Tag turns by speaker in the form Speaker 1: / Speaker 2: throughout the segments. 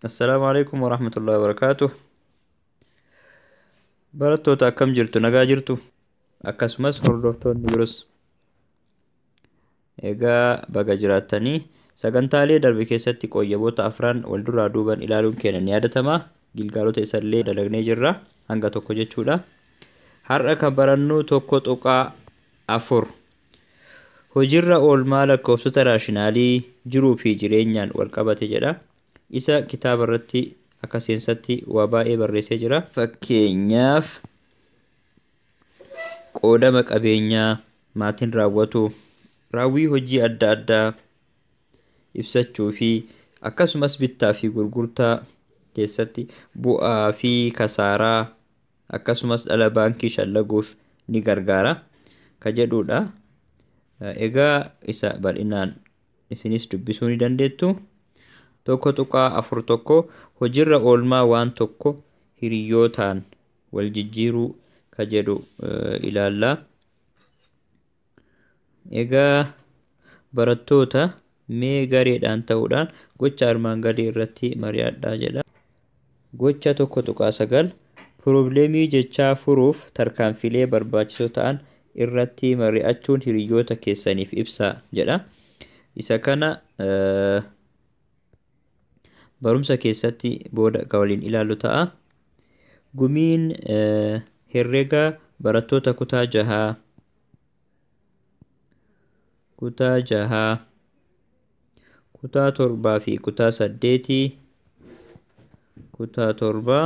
Speaker 1: Assalaamu alaikum warahmatullahi wabarakaatuh. Barattoota akkam jirtu nagaa jirtu akkasumas hordoftoonni biros. Egaa baga jiraattanii. Sagantaalee darbe keessatti qoyyaboota afran wal duraa duuban ilaaluun keenya ni yaadatama. Gilgaalota isallee dalagnee jirra. Hanga tokko jechuudha. Har'a kan barannu tokko tuqaa afur. Hojiirra oolmaa lakkoofsota raashinaalii jiruu fi jireenyaan wal qabate jedha. Isa kitaaba irratti akka seensatti waa baay'ee barreessee jira. Fakkeenyaaf Qoodama qabeenyaa maatiin raawwatu raawwii hojii adda addaa ibsachuu fi akkasumas bittaa fi gurgurtaa keessatti bu'aa fi kasaaraa akkasumas dhala baankii shallaguuf ni gargaara ka jedhuudha. Egaa isa bal'inaan isinis dubbisuu ni dandeettu. Tokko tuqaa afur tokko hojiirra oolmaa waan tokko hiriyyootaan wal jijjiiruu ka jedhu ilaalla. Egaa barattoota mee gareedhaan ta'uudhaan gocha armaan gadii irratti mari'adhaa jedha. Gocha 1.9 Pirobleemii jechaa furuuf tarkaanfilee barbaachisoo ta'an irratti mari'achuun hiriyoota keessaniif ibsaa jedha. Isa kana barumsa keessatti booda kan waliin ilaallu ta'a. Gumiin herrega barattoota kutaa jahaa kutaa jahaa kutaa torbaa fi kutaa saddeetii kutaa torbaa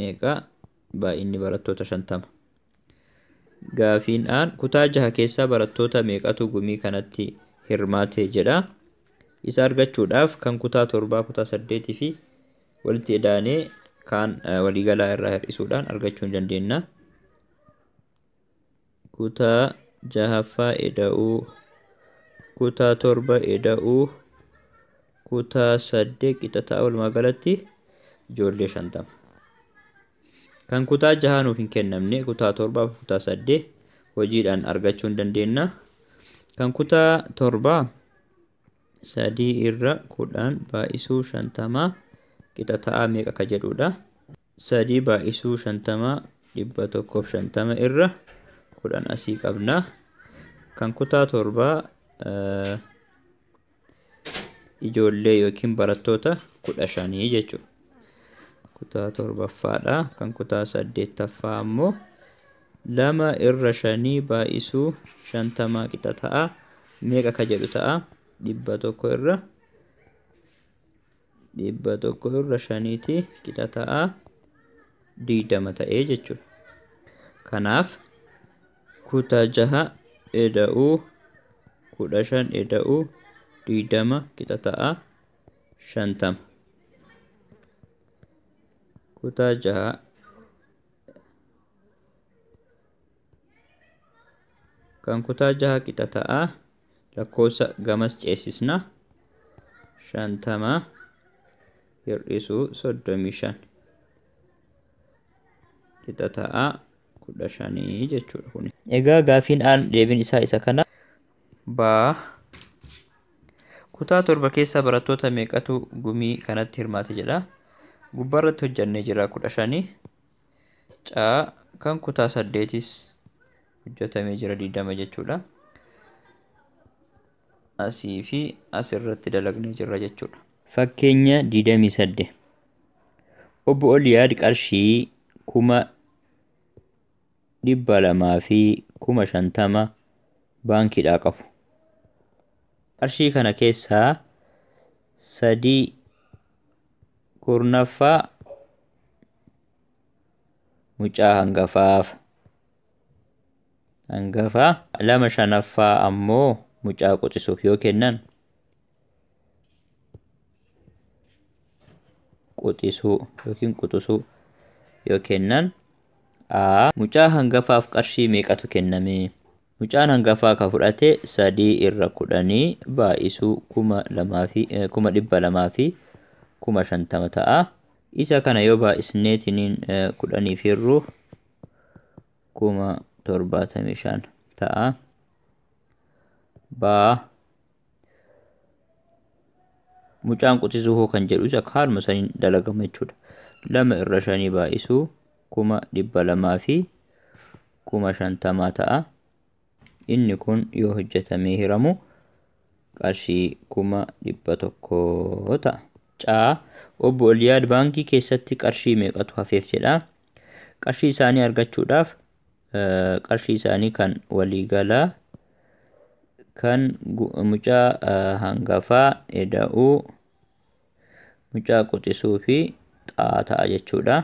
Speaker 1: meeqa? Baay'inni barattoota 50. Gaafiin aan kutaa jaha keessaa barattoota meeqatu gumii kanatti hirmaate jedha. Isa argachuudhaaf kan kutaa torbaa, kutaa saddeetii fi walitti edaanee kaan waliigalaa irraa hir'isuudhaan argachuu ni dandeenya. Kutaa jahaffaa Eda'uu Kutaa torba Eda'uu Kutaa saddeet qixataa walumaa galatti ijoollee shantama. Kan kutaa jahaa nuuf hin kennamne kutaa torbaa fi kutaa saddeet hojiidhaan argachuu hin dandeenna. Kan kutaa torbaa sadii irra kudhan baay'isuu shantamaa qixa ta'aa meeqa ka jedhudha. 3 baay'isuu 50 150 irra 10 asii qabna. Kan kutaa torbaa ijoollee yookiin barattoota 15 jechuudha. Kutaa torbaffaadha. Kan kutaa saddeettaffaa ammoo lama irra shanii baay'isuu shantamaa qixa ta'a. Meeqa ka jedhu ta'a? Dhibba tokko irra dhibba tokko irra shaniiti qixa ta'a digdama ta'ee jechuudha. Kanaaf kutaa jaha eda'uu kudha shan eda'uu digdama qixa ta'a shantama. Kutaa jaha kan kutaa jaha qixa ta'a lakkoofsa gamas ceesisna shantama hir'isuu soddomii shan qixa ta'a kudha shanii jechuudha kuni. Egaa gaafiin aan deebiin isaa isa kana baa kutaa torba keessaa barattoota meeqatu gumii kanatti hirmaate jedha gubbaarratti hojjannee jira kudha shanii C. Kan kutaa saddeetis hojjetamee jira 20 jechuudha. Asii fi asirratti dalagnee jirra jechuudha. Fakkeenya 28. Obbo Oliyaad qarshii kuma dhibba lamaa fi kuma shantama baankiidhaa qabu. Qarshii kana keessaa sadii kurnaffaa mucaa hangafaaf hangafaa lama shanaffaa ammoo mucaa quxisuuf yoo kennan quxisuu yookiin quxusuu yoo kennan a mucaa hangafaaf qarshii meeqatu kenname Mucaan hangafaa ka fudhate sadii irra kudhanii baay'isuu kuma lamaa fi eh, kuma dhibba lamaa fi kuma shantama ta'a. Isa kana yoo baay'isneetiniin eh, kudhaniif hirru kuma torbaatamii shan ta'a. Baa Mucaan quxisuu hoo kan jedhus akka haaluma saniin dalagama jechuudha. Lama irra shanii baay'isuu kuma dhibba lamaa fi kuma shantamaa ta'a. Inni kun yoo hojjetamee hiramu qarshii kuma dhibba tokko ta'a. Caa obbo Oliyaad baankii keessatti qarshii meeqatu hafeef jedha. Qarshii isaanii argachuudhaaf qarshii isaanii kan waliigalaa kan mucaa hangafaa eda'uu mucaa quxisuu fi xaa ta'a jechuudha.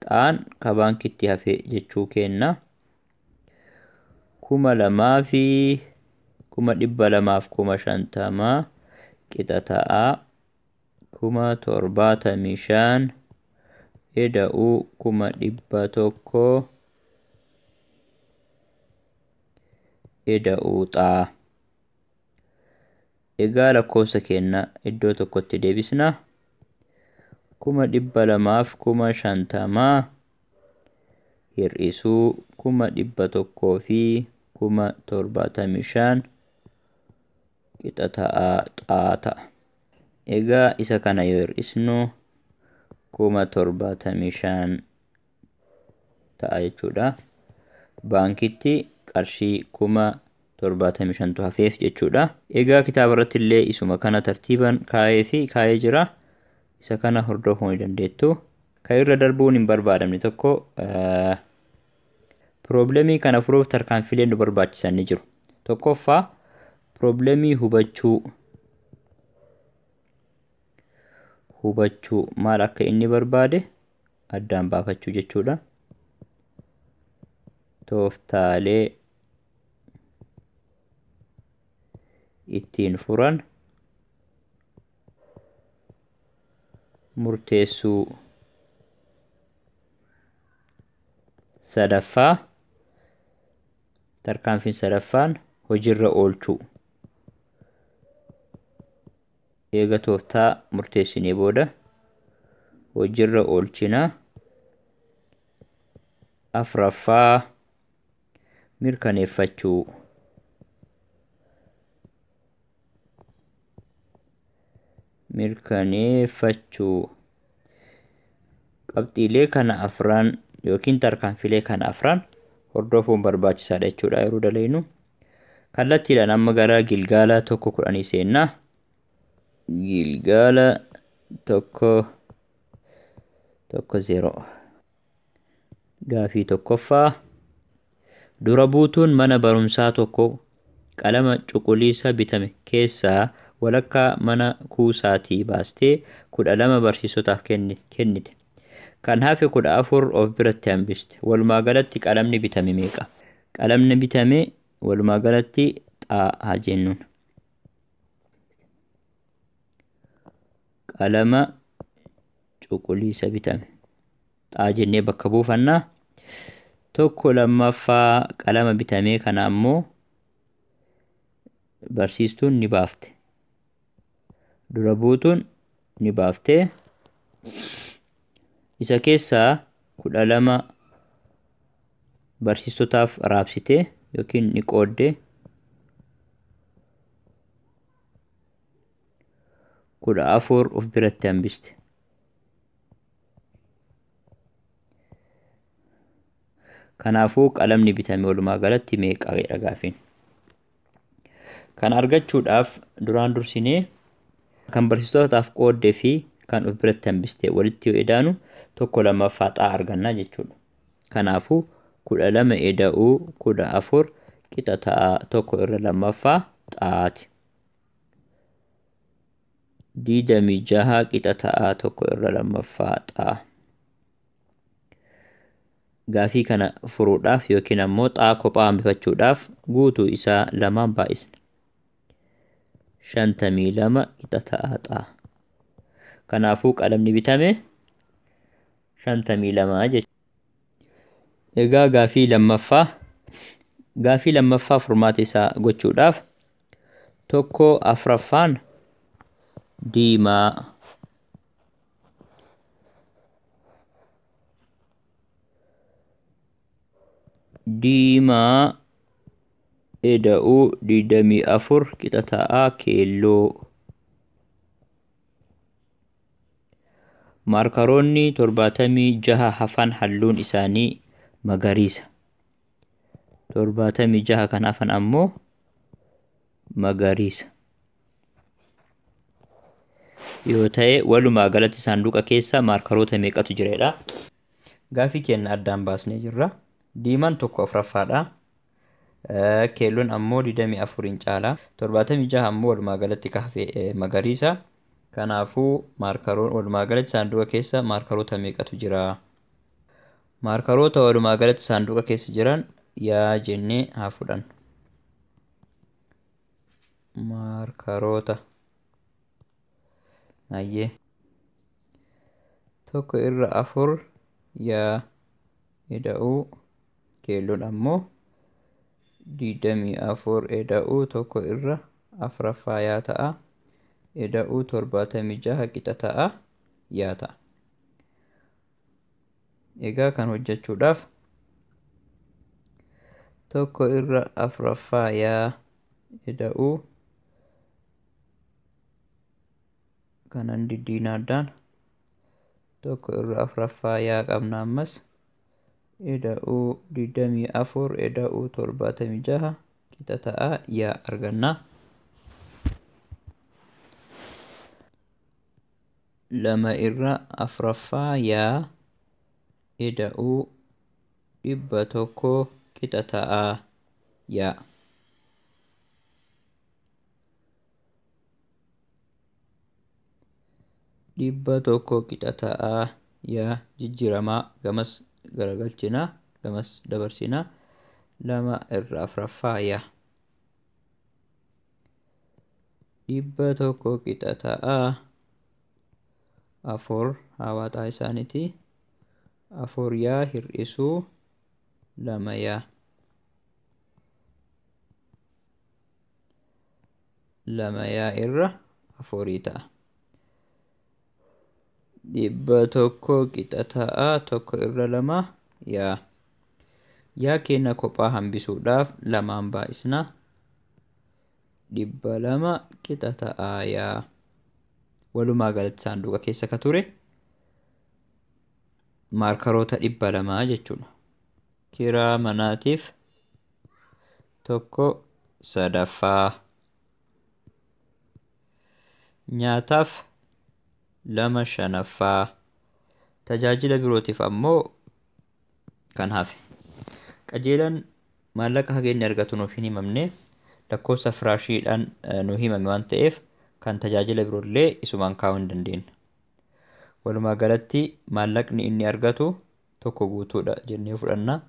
Speaker 1: Xaan ka baankitti hafe jechuu kenna. Kuma lamaa fi kuma dhibba lamaaf kuma shantamaa qixa ta'a. kuma torbaatamii shan ida'uu kuma dhibba tokko ida'uu xaa egaa lakkoofsa keenya iddoo tokkotti deebisna kuma dhibba lamaaf kuma shantamaa hir'isuu kuma dhibba tokkoo fi kuma torbaatamii shan qixa ta'aa xaa ta'a. Egaa isa kana yoo hir'isnu kuma torbaatamii shan ta'a jechuudha. Baankitti qarshii kuma torbaatamii shantu hafeef jechuudha. Egaa kitaaba irratti illee isuma kana tartiiban kaa'ee fi kaa'ee jira. Isa kana hordofuu ni dandeettu. Kan irra darbuun hin barbaadamne tokko Pirooblemii kana furuuf tarkaanfiileen nu barbaachisan ni jiru. Tokkoffaa pirooblemii hubachuu hubachuu maal akka inni barbaade addaan baafachuu jechuudha. Tooftaalee ittiin furan murteessuu sadaffaa tarkaanfiin sadaffaan hojiirra oolchuu eega tooftaa murteessinee booda hojiirra oolchina afraffaa mirkaneeffachuu mirkaneeffachuu qabxiilee kana afran yookiin tarkaanfilee kana afran hordofuun barbaachisaadha jechuudha yeroo dalagnu kallattiidhaan amma gara gilgaala tokko kudhanii seennaa gilgaala tokko tokko zeeroo Gaafii tokkoffaa, Dura buutuun mana barumsaa tokko qalama cuquliisa bitame keessaa walakkaa mana kuusaatii baastee 12 barsiisotaaf kennite. Kan hafe 14 of biratti hambiste. Walumaa galatti qalamni bitame meeqa? Qalamni bitame walumaa galatti xaa haa jennuun. Qalama cuquliisa bitame. Xaa jennee bakka buufanna. Tokko lammaffaa qalama bitamee kana ammoo barsiistuun ni baafte. Dura buutuun ni baafte. Isa keessaa kudha lama barsiistotaaf raabsite yookiin ni qoodde. kudha afur of biratti hambiste. Kanaafuu qalamni bitame walumaa galatti meeqa jedha gaafiin. Kan argachuudhaaf duraan dursinee kan barsiistotaaf qooddee fi kan of biratti hambiste walitti yoo edaanu tokko lammaffaa xaa arganna jechuudha. Kanaafuu kudha lama eda'uu kudha afur qixa ta'a tokko irra lammaffaa xaati. digdamii jaha qixa ta'aa tokko irra lammaffaa xaa gaafii kana furuudhaaf yookiin ammoo xaa kophaa hambifachuudhaaf guutuu isaa lamaan baay'isna shantamii lama qixa ta'aa xaa kanaafuu qalamni bitame shantamii lama jechuudha. Egaa gaafii lammaffaa gaafii lammaffaa furmaata isaa gochuudhaaf Tokko afraffaan diimaa. Diimaa eda'uu digdamii afur qixa ta'a keelloo. Maarkaroonni torbaatamii jaha hafan halluun isaanii magariisa. torbaatamii jaha kan hafan ammoo magariisa yoo ta'e walumaa galatti saanduqa keessa maarkaroota meeqatu jireedha gaafii keenya addaan baasnee jirra diimaan tokko afuraffaadha keelloon ammoo 24n caala 76 ammoo walumaa galatti ka hafe magariisa kanaafuu maarkaroon walumaa galatti saanduqa keessa maarkaroota meeqatu jira Maarkaroota walumaa galatti saanduqa keessa jiran yaa jennee haa fudhannu. Maarkaroota. Ayyee. Tokko irra afur yaa eda'uu keelloon ammoo digdamii afur eda'uu tokko irra afraffaa yaa ta'a. Eda'uu torbaatamii jaha qixa ta'a yaa ta'a. Egaa kan hojjechuudhaaf tokko irra afraffaa yaa ida'u kanan diddiina addaan tokko irra afraffaa yaa qabna ammas ida'u digdamii afur ida'u torbaatamii jaha qixa ta'a yaa arganna. 2 irra 4ffaa yaa ida'uu 100 qixa ta'a yaa. dhibba tokko qixa ta'a yaa jijjiramaa gamas garagalchina gamas dabarsina lama irra afraffaa yaa. dhibba tokko qixa ta'a. Afur hawaaxaa isaaniiti. Afur yaa hir'isuu lama yaa. Lama yaa irra afurii ta'a. Dhibba tokko qixa ta'a tokko irra lama yaa. Yaa keenya kophaa hambisuudhaaf lamaan baay'isna. dhibba lama qixa ta'aaya. Walumaa galatti saanduqa keessa ka ture maarkaroota dhibba lamaa jechuudha. Kiraa manaatiif tokko sadaffaa. Nyaataaf lama shanaffaa. Tajaajila birootiif ammoo kan hafe. Qajeelaan maallaqa haga inni argatu nuuf hin himamne, lakkoofsa firaashiidhaan nu himame waan ta'eef kan tajaajila biroollee isumaan kaa'uu hin dandeenye. Walumaa galatti maallaqni inni argatu tokko guutuudha jennee fudhanna.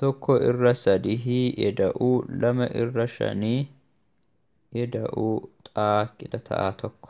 Speaker 1: Tokko irra sadihii eda'uu lama irra shanii eda'uu xaa qixa ta'aa tokko.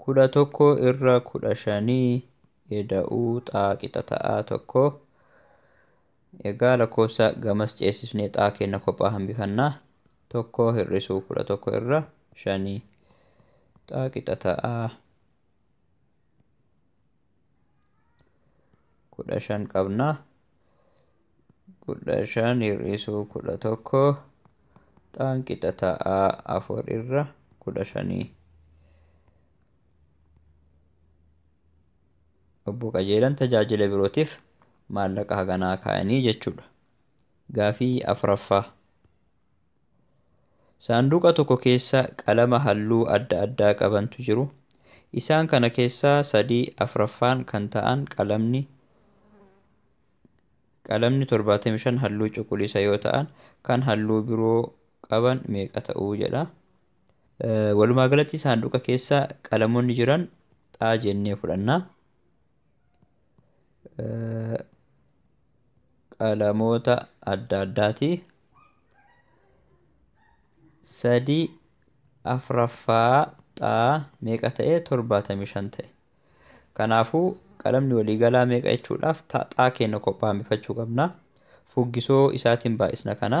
Speaker 1: kudha tokko irra kudha shanii eda'uu xaa qixa ta'aa tokko egaa lakkoofsa gamas ceesifnee xaa kenna kophaa hambifannaa tokko hir'isuu kudha tokko irra shanii xaa qixa ta'aa kudha shan qabna kudha shan hir'isuu kudha tokko xaan qixa ta'a afur irra kudha shanii obbo qajeelan tajaajila birootiif maallaqa haganaa kaa'anii jechuudha gaafii afraffaa Saanduqa tokko keessa qalama halluu adda addaa qabantu jiru. Isaan kana keessaa sadii afraffaan kan ta'an qalamni qalamni 75 halluu cuquliisa yoo ta'an kan halluu biroo qaban meeqa ta'uu jedha. Walumaa galatti saanduqa keessa qalamonni jiran xaa jennee fudhanna. qalamoota adda addaati. Sadii afraffaa xaa meeqa ta'e torbaatamii shan ta'e. Kanaafuu qalamni waliigalaa meeqa jechuudhaaf xaa keenya kophaa hambifachuu qabna. Fuggisoo isaatiin baay'isna kana.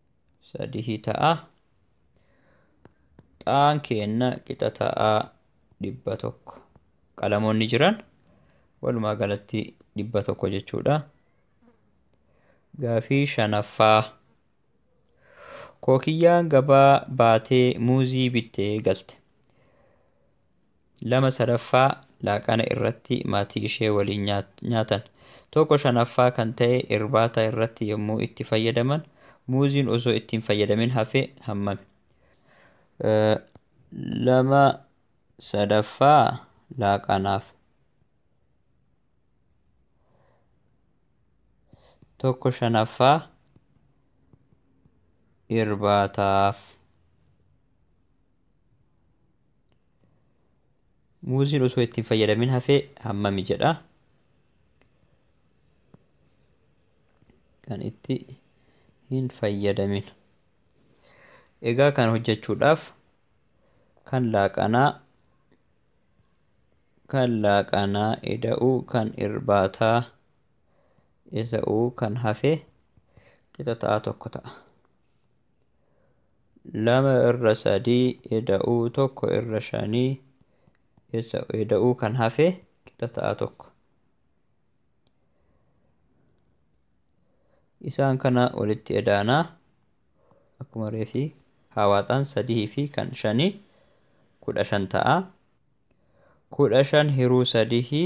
Speaker 1: sadihii ta'a xaan keenna qixa ta'a dhibba tokko qalamoonni jiran walumaa galatti dhibba tokko jechuudha gaafii shanaffaa kookiyyaan gabaa baatee muuzii bittee galte 2 sadaffaa laaqana irratti maatii ishee waliin nyaatan. 1 shanaffaa kan ta'e irbaata irratti yommuu itti fayyadaman muuziin osoo itti hin fayyadamin hafe hammami? 2 sadaffaa laaqanaaf. 1 shanaffaa irbaataaf. Muuziin osoo itti hin fayyadamin hafee hammami jedha. Kan itti hin fayyadamin. Egaa kan hojjechuudhaaf kan laaqanaa kan laaqanaa eda'uu kan irbaataa eda'uu kan hafe qixa ta'a tokko ta'a. lama irra sadii eda'uu tokko irra shanii eda'uu kan hafe qixa ta'a tokko. Isaan kana walitti edaanaa akkuma reefii hawaaxaan sadii fi kan shanii kudha shan ta'a. Kudha shan hiruu sadii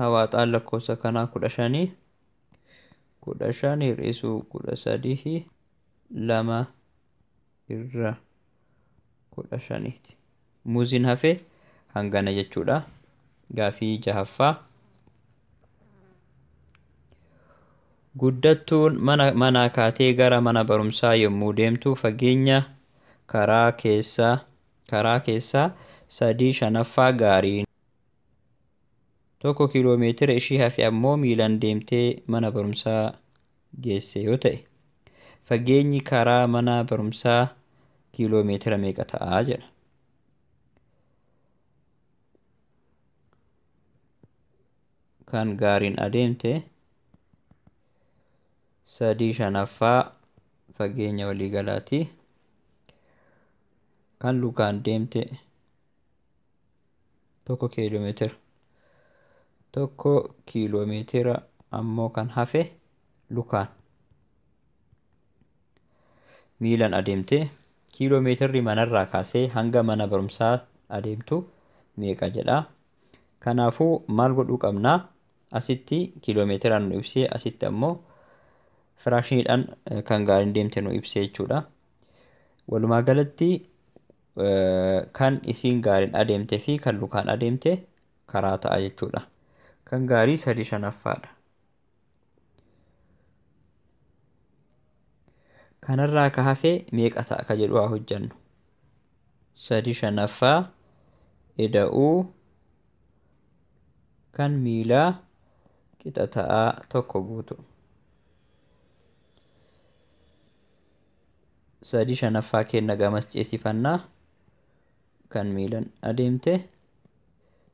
Speaker 1: hawaaxaan lakkoofsa kanaa kudha shanii kudha shan hir'isuu kudha sadihi lama irra kudha shaniiti. Muuziin hafe hangana jechuudha. Gaafii jahaffaa. Guddattuun mana manaa kaatee gara mana barumsaa yommuu deemtu fageenya karaa keessaa karaa keessaa sadii shanaffaa gaariin 1 kiiloo meetira ishii hafe ammoo miilan deemtee mana barumsaa geesse yoo ta'e fageenyi karaa mana barumsaa kiiloo meetira meeqa ta'a jedha. kan gaariin adeemte sadii shanaffaa fageenya waliigalaati. Kan lukaan deemte tokko kiiloomeetira. Tokko kiiloomeetira ammoo kan hafe lukaan. Miilan adeemte kiiloomeetirri manarraa kaasee hanga mana barumsaa adeemtu meeqa jedha. Kanaafuu maal godhuu qabna? Asitti kiiloomeetiraan nu ibsee asitti ammoo firaashiniidhaan kan gaariin deemte nu ibsee jechuudha. Walumaa galatti kan isiin gaariin adeemte fi kan lukaan adeemte karaa ta'a jechuudha. Kan gaarii sadii shanaffaadha. kanarraa ka hafee meeqa ta'a ka jedhu haa hojjannu sadi shanaffaa ida'uu kan miilaa qixa ta'aa tokko guutu sadi shanaffaa keenna gamas ceesifannaa kan miilan adeemte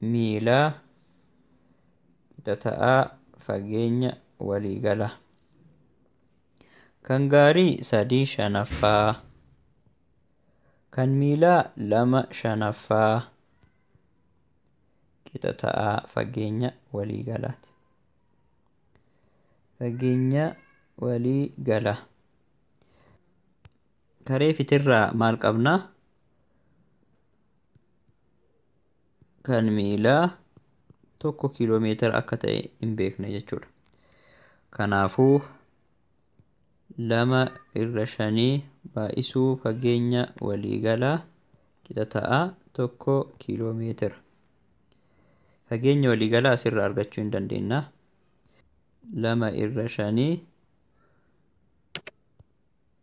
Speaker 1: miilaa qixa ta'aa fageenya waliigala. Kan gaarii sadii shanaffaa. Kan miilaa lama shanaffaa qixa ta'aa fageenya waliigalaati. Fageenya waliigala. Taree fitirraa maal qabnaa? kan miilaa tokko kiiloo meetira akka ta'e hin beekne jechuudha. Kanaafuu lama irra shanii baay'isuu fageenya waliigalaa qixa ta'a tokko kiiloo meetira. Fageenya waliigalaa asirra argachuu hin dandeenya. Lama irra shanii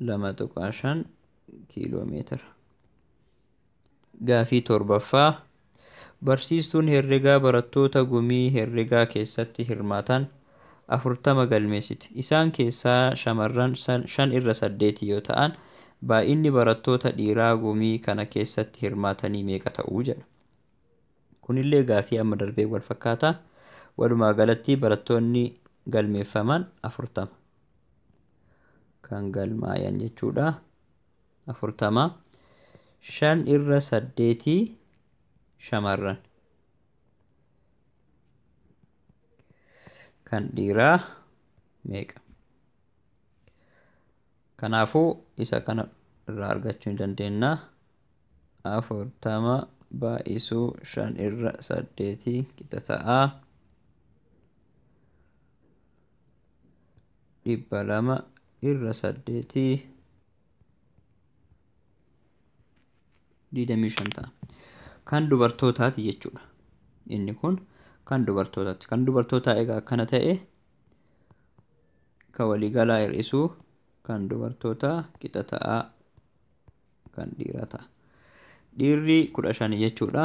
Speaker 1: 2.5 kiiloomeetira. Gaafii torbaffaa barsiistuun herregaa barattoota gumii herregaa keessatti hirmaatan 40 galmeessite. Isaan keessaa shamarran 5 irra 8 yoo ta'an, baay'inni barattoota dhiiraa gumii kana keessatti hirmaatanii meeqa ta'u jedha. Kunillee gaafii amma darbee wal fakkaata. Walumaa galatti barattoonni galmeeffaman 40. kan galmaayan jechuudha. afurtama shan irra saddeetii shamarran kan dhiiraa meeqa kanaafuu isa kana irraa argachuu hin dandeenya afurtama baay'isuu shan irra saddeetii qixa ta'aa dhibba lama irra saddeeti digdamii shan ta'a. Kan dubartootaati jechuudha. Inni kun kan dubartootaati. Kan dubartootaa egaa akkana ta'e kan waliigalaa hir'isuu kan dubartootaa qixa ta'a kan dhiiraa ta'a. Dhiirri kudha shani jechuudha.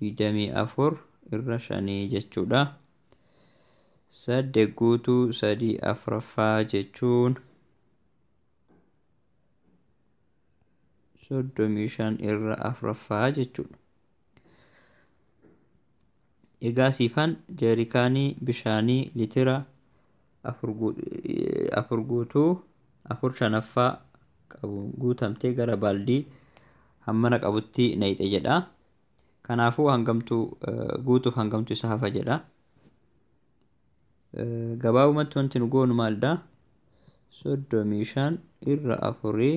Speaker 1: digdamii afur irra shanii jechuudha. Saddeet guutuu sadii afraffaa jechuun soddomii shan irra afraffaa jechuudha. Egaa siifan jeerikaanii bishaanii litira afur guutuu afur shanaffaa qabu guutamtee gara baaldii hammana qabutti nayxe jedha. Kanaafuu hangamtu guutuuf hangamtu isa hafa jedha. Gabaabumatti wanti nu goonu maalidha? Soddomii shan irra afurii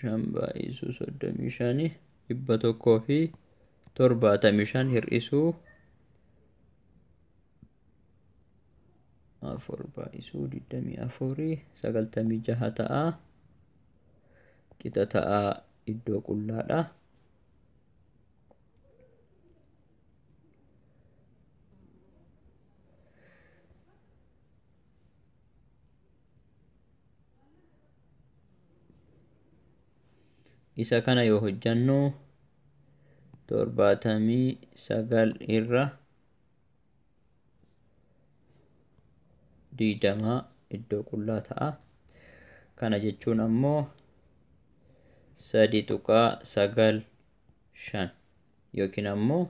Speaker 1: shan baay'isuu soddomii shani dhibba tokkoo fi torbaatamii shan hir'isuu afur baay'isuu digdamii afurii sagaltamii jaha ta'a qixa ta'a iddoo qullaadha. isa kana yoo hojjannu torbaatamii sagal irra digdama iddoo qullaa ta'a kana jechuun ammoo sadi tuqaa sagal shan yookiin ammoo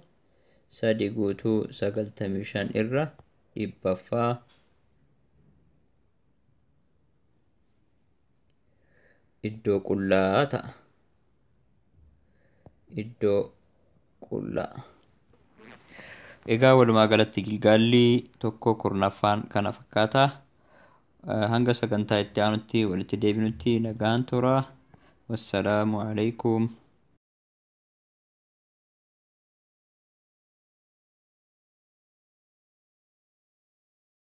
Speaker 1: sadi guutuu sagaltamii shan irra dhibbaffaa iddoo qullaa ta'a iddoo qullaa egaa walumaa galatti gilgaalli tokko kurnaffaan kana fakkaata hanga sagantaa itti aanutti walitti deebinutti nagaan tura wassalaamu alaikum